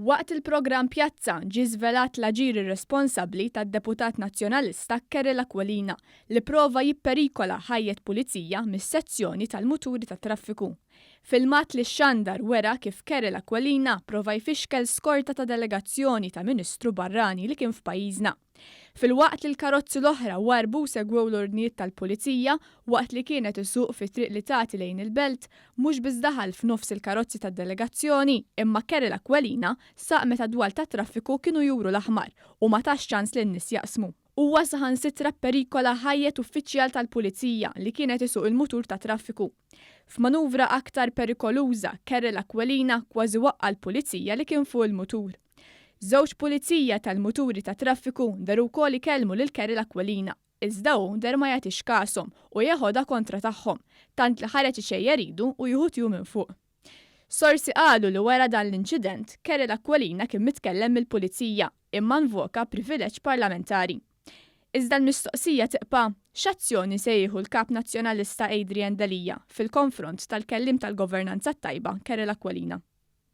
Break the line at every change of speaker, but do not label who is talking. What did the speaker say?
Waqt il-programm Pjazza ġie żvelat l-aġir irresponsabbli tad-deputat Nazzjonalista Kerel Aquilina li prova jipperikola ħajjet pulizija mis-sezzjoni tal-muturi tat-traffiku. Filmat li xxandar wera kif Kerel Aquilina prova jfixkel skorta ta' delegazzjoni ta' Ministru barrani li kien f'pajjiżna. Filwaqt li l-karozzi l-oħra warrbu u segwew l-ordnijiet tal-Pulizija, waqt li kienet isuq fit-triq li tagħti lejn il-Belt, mhux biss daħal f'nofs il-karozzi tad-delegazzjoni, imma Kerel Aquilina saq meta d-dwal tat-traffiku kienu juru l-aħmar u ma tax ċans lin-nies jaqsmu. Huwa saħansitra pperikola ħajjet uffiċjal tal-Pulizija li kienet isuq il-mutur tat-traffiku. F'manuvra aktar perikoluża, Kerel Aquilina kważi waqqa' l-Pulizija li kien fuq il-mutur. Żewġ pulizija tal-muturi tat-traffiku nderu wkoll ikellmu lil Carol Aquilina, iżda hu ndeher ma jagħtix kashom u jeħodha kontra tagħhom, tant li ħareġ ixejjer idu u jieħu tju minn fuq. Sorsi qalu li wara dan l-inċident, Carol Aquilina kien mitkellem mill-pulizija, imma nvoka privileġġ parlamentari. Iżda l-mistoqsija tibqa', x'azzjoni se jieħu l-Kap Nazzjonalista Adrian Delia fil-konfront tal-kelliem tal-governanza t-tajba Carol Aquilina?